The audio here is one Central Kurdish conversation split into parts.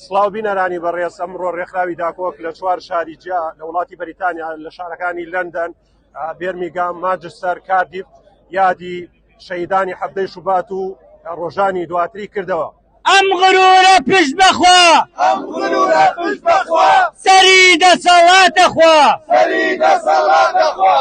سڵاو بینەرانی بەڕێز ئەمڕۆ ڕێکخراوی داکۆک لە چوار شاری جیا لە وڵاتی بەریتانیا لە شارەکانی لەندەن بێرمیگام ماجستەر کاردیف یادی شەیدانی حەفتەی شوبات و ڕۆژانی دواتری کردەوە ئەم غرورە پشت بەخوا ئەم غرورە پشت بەخوا سەری دەسەڵاتە خوا سەری دەسەڵاتە خوا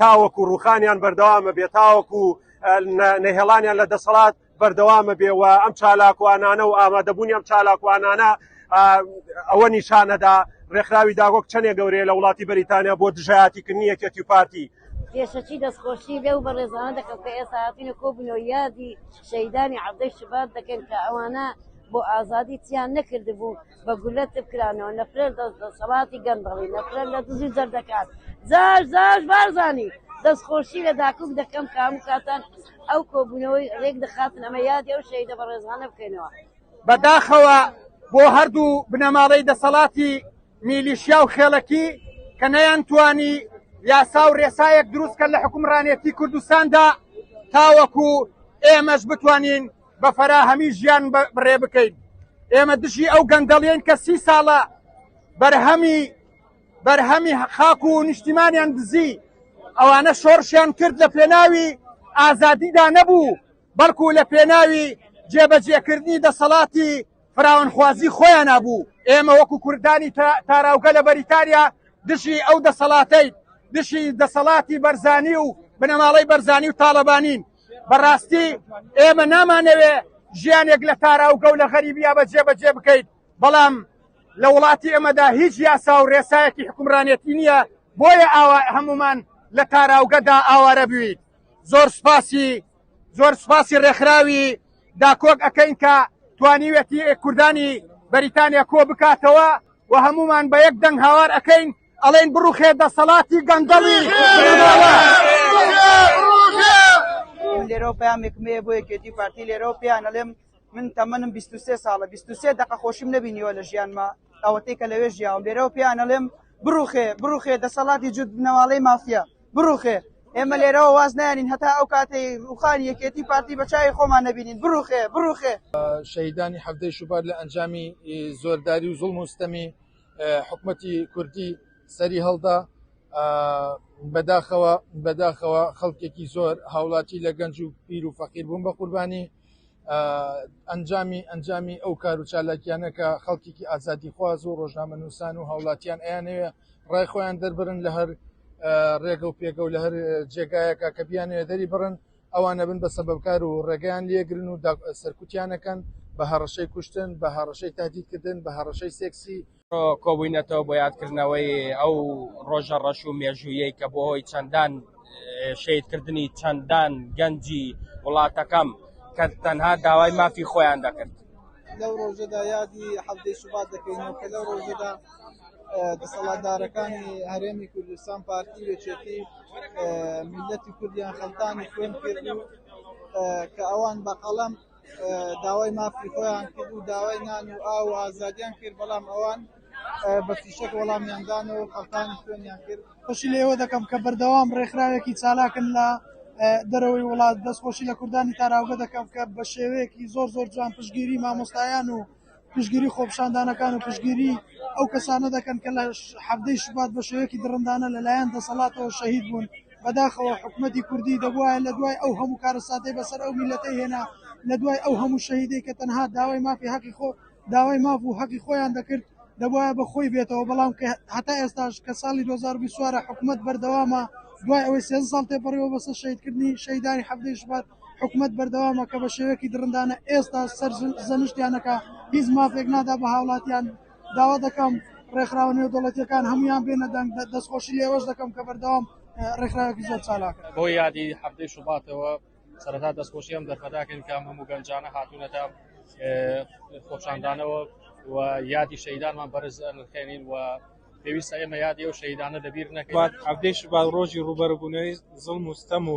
تاوەکو ڕوخانیان بەردەوامە بێ تاوەکو نەهێڵانیان لە دەسەڵات بەردەوامە بێ و ئەم چالاکوانانە و ئامادەبوونی ئەم چالاکوانانە ئەوە نیشانەدا ڕێکخراوی داگۆک چەندێ گەورەیە لە وڵاتی بەریتانیا بۆ دژایەتیکردنی یەکێتی و پارتی پێشەکی دەستخۆشی لەو بەڕێزانە دەکەم کە ئێستا هاتینە کۆبنەوە یادی شەیدانی عەبدەی شبات دەکەن کە ئەوانە بۆ ئازادی تیان نەکردبوو بە گولە تف کرانەوە نەفرەت لە دەسەڵاتی گەندەڵی نەفرەت لە دزی جەردەکان زار زار بارزانی دەستخۆشی لە داکوک دەکەم کە هەموو کاتان ئەو کۆبوونەوەی ڕێک دەخاتن ئەمە یادی ئەو شەهیدە بەڕێزانە بکەینەوە بەداخەوە بۆ هەردوو بنەماڵەی دەسەڵاتی میلیشیا و خێڵەکی کە نەیانتوانی یاسا و ڕێسایەک دروستکە لە حکومڕانێتی کوردستاندا تاوەکو ئێمەش بتوانین بە فەراهەمی ژیان بڕێ بکەین ئێمە دژی ئەو گەندەڵیین کە سی ساڵە بەرهەمی بەرهەمی خاک و نیشتیمانیان دزی ئەوانە شۆڕشیان کرد لە پێناوی ئازادیدا نەبوو بەڵکو لە پێناوی جێبەجێکردنی دەسەڵاتی فراونخوازی خۆیان بوو ئێمە وەکو کوردانی تاراوگە لە بەریتانیا دژی ئەو دەسەڵاتەی دژی دەسەڵاتی بەرزانی و بنەماڵەی بەرزانی و تاالبانین بەڕاستی ئێمە نامانەوێ ژیانێک لە تاراوگە و لە غەریبیا بە جێبەجێ بکەیت بەڵام لە وڵاتی ئێمەدا هیچ یاسا و ڕێسایەکی حکومرانێتی نییە بۆیە ئاوا هەمومان لە تاراوگەدا ئاوارە بوویت زۆر سپاسی زۆر سپاسی ڕێکخراوی داکۆک ئەەکەین کە توانیوێتی کوردانی بەریتانیا کۆ بکاتەوە و هەمومان بە یەک دەنگ هاوار ئەەکەین ئەڵێن بڕوخێ دەسەڵاتی گەندەڵی من لێرەوە پامێکم هەیە بۆ یەکێتی پارتی لێرەوە پێیان ئەڵێم من تەمەنم 23 ساڵە 23 دقە خۆشیم نبینیوە لە ژیانمە ئەوەتەی کە لەوێ ژیاوم لێرەوە پێیان ئەڵێم بڕوخێ بڕوخێ دەسەڵاتی جود بنەواڵەی مافیا بڕوخێ ئێمە لێرەوە واز نانین هەتا ئەو کاتی روخانی یەکێتی پارتی بەچوی خۆمان نبینین بڕوخێ بڕوخێ شەیدانی هەفتەی شوبار لە ئەنجامی زۆرداری و زوڵ مستەمی حکومەتی کوردی سەری هەڵدا بەداخەوە بەداخەوە خەڵکێکی زۆر هاوڵاتی لە گەنج و پیر و فەقیر بوون بە قوربانی ئەنجامی ئەنجامی ئەو کار و چالاکیانە کە خەڵکیی ئازادی خواز و ڕۆژنامە نووسان و هاوڵاتیان ئەیانەوێ ڕای خۆیان دەربرن لە هەر ڕێگە و پێگە و لە هەر جێگایەکە کە بیانەوێ دەری بڕن ئەوانە بن بە سەبەبکار و ڕێگەیان لێگرن و سەرکوتیانەکەن بە هەڕەشەی کوشتن بە هەڕەشەی تادیدکردن بە هەڕەشەی سێکسی کۆبووینەتەوە بۆ یادکردنەوەی ئەو ڕۆژە ڕەش و مێژوویەی کە بۆ هۆی چەندان شیدکردنی چەندان گەنجی وڵاتەکەم کە تەنها داوای مافی خۆیان دەکرد لەو ڕۆژەدا یادی حەڤدەی شوبات دەکەینەوە کە لەو ڕۆژەدا دەسەڵاتدارەکانی هەرێمی کوردستان پارتی و یەکێتی میللەتی کوردیان خەڵتانی خوێن کرد و کە ئەوان بە قەڵەم داوای مافی خۆیان کرد و داوای نان و ئاو و ئازادیان کرد بەڵام ئەوان بە فیشەک وەڵامیاندان و خەڵتانی خوێنیان کرد خوشی لێوە دەکەم کە بەردەوام ڕێکخراوێکی چالاکن لە دەرەوەی وڵات دەستخۆشی لە کوردانی تاراوگە دەکەم کە بە شێوەیەکی زۆر زۆر جوان پشگیری مامۆستایان و پشتگیری خۆپیشاندانەکان و پشتگیری ئەو کەسانە دەکەن کە لە حەڤدەی شوبات بە شێوەیەکی دڕندانە لە لایەن دەسەڵاتەوە شەهید بوون، بەداخەوە حکومەتی کوردی دەبوایە لە دوای ئەو هەموو کارەساتەی بەسەر ئەو میللەتەی هێنا، لە دوای ئەو هەموو شەهیدەی کە تەنها داوای مافی هەقی خۆ داوای ماف و هەقی خۆیان دەکرد دەبوایە بە خۆی بێتەوە بەڵام کە هەتا ئێستاش کە ساڵی دوو هەزار و بیست و چوار ە حکومەت بەردەوامە دوای ئەوەی سێزدە ساڵ تێپەڕیوە بەسە شەهیدکردنی شەهیدانی حەڤدەی شوبات حکومەت بەردەوامە کە بە شێوەیەکی دڕندانە ئێستا سەر زەنشتیان ئەکا، هیچ مافێک نادا بە هاوڵاتیان، داوا دەکەم ڕێکخراوە نێودەوڵەتییەکان هەموویان بێنە دەنگ، دەستخۆشی لە ئێوەش دەکەم کە بەردەوام ڕێکخراوێکی زۆر چالاکن. بۆ یادی حەڤدەی شوباتەوە سەرەتا دەستخۆشی ئەم دەرفەتە ئەکەین کە ئەم هەموو گەنجانە هاتوونەتە خۆپیشاندانەوە و یادی شەهیدانمان بەرز ئەنرخێنین و پێویستە ئێمە یادی ئەو شەهیدانە لەبیر نەکەین. حەڤدەی شوبات ڕۆژی ڕووبەڕووبوونەوەی زوڵم و ستەم و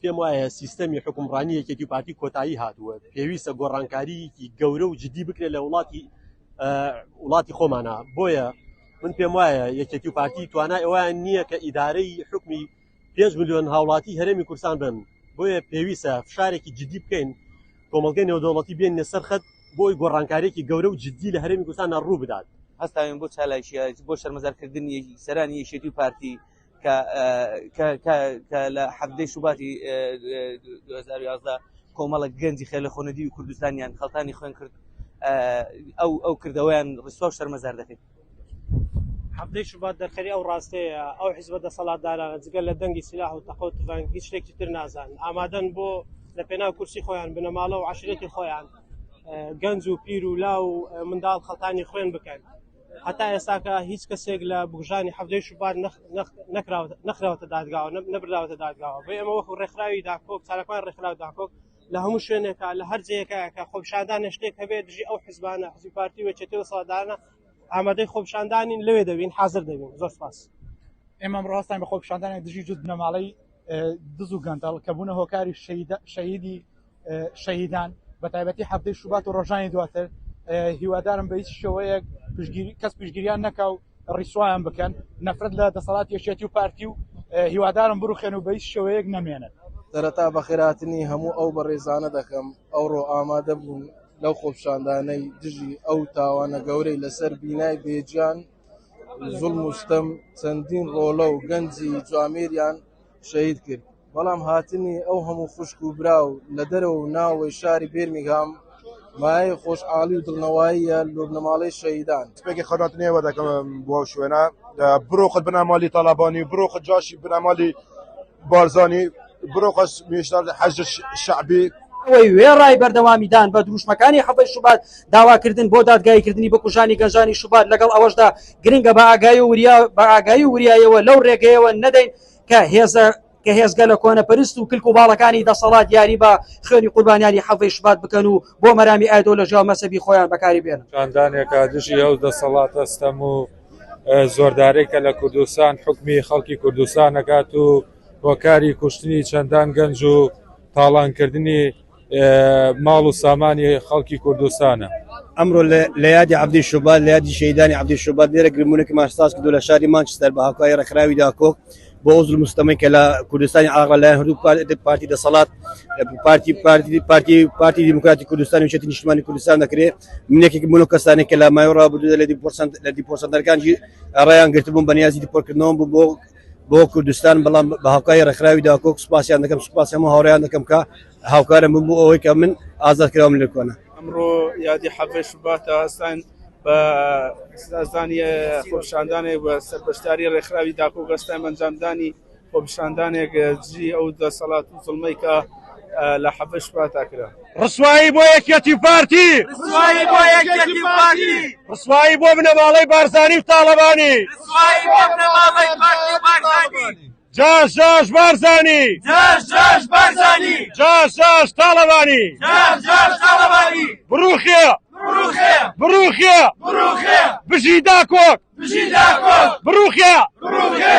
پێم وایە سیستەمی حکومڕانی یەکێتی پارتی کۆتایی هاتووە پێویستە گۆڕانکاریی گەورە و جددی بکرێت لە وڵاتی وڵاتی خۆمانە بۆیە من پێم وایە یەکێتی و پارتی توانای ئەویان نییە کە ئیدارەی حکمی پێنج میلیۆن هاوڵاتی هەرێمی کورسان بن بۆیە پێویستە فشارێکی جددی بکەین کۆمەلگەی نێودەوڵەتی بێن لەسەر خەت بۆی گۆڕانکارێکی گەورە و جددی لە هەرێمی کوردستان ڕوو بدات هەستاوین بۆ چالاکیە بۆ شەرمەزارکردنی سەرانی یەکێتی و پارتی کە لە حەڤدەی شوباتی کۆمەڵک گەنجی خێلە خۆنەدی و کوردستانیان خەڵتانی خوێن کرد ئەو ئەو کردەوەیان ڕسوا و شەرمەزار دەکەیت حەفتەی شوبات دەرخەری ئەو ڕاستەیە ئەو حزبە دەسەڵاتدارانە جگە لە دەنگی سلاح و تەقۆ تفەنگ هیچ شتێکی تر نازان ئامادەن بۆ لە پێناو کورسی خۆیان بنەماڵە و عشرێتی خۆیان گەنج و پیر و لا و منداڵ خەڵتانی خوێن بکەن هەتا ئێستاکە هیچ کەسێک لە بکوژانی حەڤدەی شوبات نەخراوەتە دادگاوە نەبراوەتە دادگاوە بۆ ئێمە وەکو ڕێکخراوی داکۆک چارەکان ڕێکخراو داکۆک لە هەموو شوێنێکە لە هەر جەیەکەکە خۆپشاندان شتێک هەبێت دژی ئەو حزبانە حزبی پارتی وێچێتی و سەدانە ئامادەی خۆپشاندانین لەوێ دەبین حاضر دەبین زۆر سپاس ئێمە ڕاستان بە خۆپشاندانە دژی جوت بنەماڵەی دز و گەندەڵ کە بوونە هۆکاری شەیدی شەیدان بە تایبەتی هەفتەی شوبات و ڕۆژانی دواتر هیوادارم بە هیچ شێوەیەک پشگیری کەس پشگیریان نەکا و ڕیسوایان بکەن نەفرەت لە دەسەڵات یەکێتی و پارتی و هیوادارم بروخێن و بە هیچ شێوەیەک نەمێنن سەرەتا بەخێراتنی هەموو ئەو بەڕێزانە دەکەم ئەوڕۆ ئامادە بوون لەو خۆپشاندانەی دژی ئەو تاوانە گەورەی لەسەر بینای بێجان زوڵم و ستەم چەندین ڕۆڵە و گەنجی جوامێریان شەهید کرد، بەڵام هاتنی ئەو هەموو خوشک و برا و لە دەرەوە و ناوەوەی شاری بێرمینگهام مایەی خۆشحاڵی و دڵنەواییە لۆ بنەماڵەی شەهیدان. تپێکی خەوناتی نێوە دەکەم بۆ ئەو شوێنە. بڕۆ خۆت بنە ماڵی تاڵابانی و بڕۆ خۆت جاشی بنە ماڵی. بارزانی بڕۆ قەش مێشدار لە حەشد شەعبی. ئەوەی وێڕای بەردەوامیدان بە دروشمەکانی حەڤەی شوبات داواکردن بۆ دادگاییکردنی بکوژانی گەنجانی شوبات لەگەڵ ئەوەشدا گرنگە بە ئاگایی و وریا بە ئاگایی و وریایەوە لەو ڕێگەیەوە نەدەین کە هێزە کە هێزگە لە کۆنەپەرست و کلک و باڵەکانی دەسەڵات یاری بە خوێنی قوربانیانی حەڤەی شوبات بکەن و بۆ مەرامی ئایدۆلۆژیا و مەسەبی خۆیان بەکاری بێنن. خاندانێکە دژی ئەو دەسەڵاتە ستەم و زۆردارەی کە لە کوردستان حکمی خەڵکی کوردستان نەکات و هۆکاری کوشتنی چەندان گەنج و تاڵانکردنی ماڵ و سامانی خەڵکی کوردستانە. ئەمڕۆ لە یادی عەبدی شوبات لە یادی شەهیدانی عەبدی شوبات لێرە گرموونەکەمان ساز کردووە لە شاری مانچستەر بە هاوکاری ڕێکخراوی داکۆک، بۆ ئەو زلم و ستەمەی کە لە کوردستانی عێراق لەلایەن هەردوو پار- پارتی دەسەڵات پارتی پارتی پارتی پارتی دیموکراتی کوردستان و یەکێتی نیشتمانی کوردستان دەکرێ من یەکێکم بوون لەو کەسانێک کە لە ماوەی ڕابردوودا لە دیپۆر سەنت- لە دیپۆر سەنتەرەکانجی ڕایان گرتبووم بە نیازی دیپۆرکردنەوەم بوو بۆ بۆ کوردستان بەڵام بە هاوکاری ڕێکخراوی داکۆک سوپاسیان دەکەم سوپاسی هەموو هاوڕێیان دەکەم کە هاوکارم بوون بۆ ئەوەی کە من ئازاد کراوم لە کۆنە. ئەمڕۆ یادی حەڤدە شوباتە، هەستاین بە سزادانی خۆپیشاندانێک بە سەر بەشداری ڕێکخراوی داکۆک، هەستاین بە ئەنجامدانی خۆپیشاندانێک دژی ئەو دەسەڵات و زوڵمەی کە لە حەڤدە شوباتا کرا. ڕسوایی بۆ یەکیەتی و پارتی. ڕسوایی بۆ یەکیەتی و پارتی. ڕسوایی بۆ بنەماڵەی بارزانی و تاڵەبانی. ڕسوایی بۆ بنەماڵەی پارتی و بارزانی. جاش جاش بارزانی جاش جاش بارزانی جاش جاش تاڵەبانی جاش جاش تاڵەبانی بڕوخێ بڕوخێ بڕوخێ بڕوخێ بژی داکۆک بژی داکۆک بڕوخێ بڕوخێ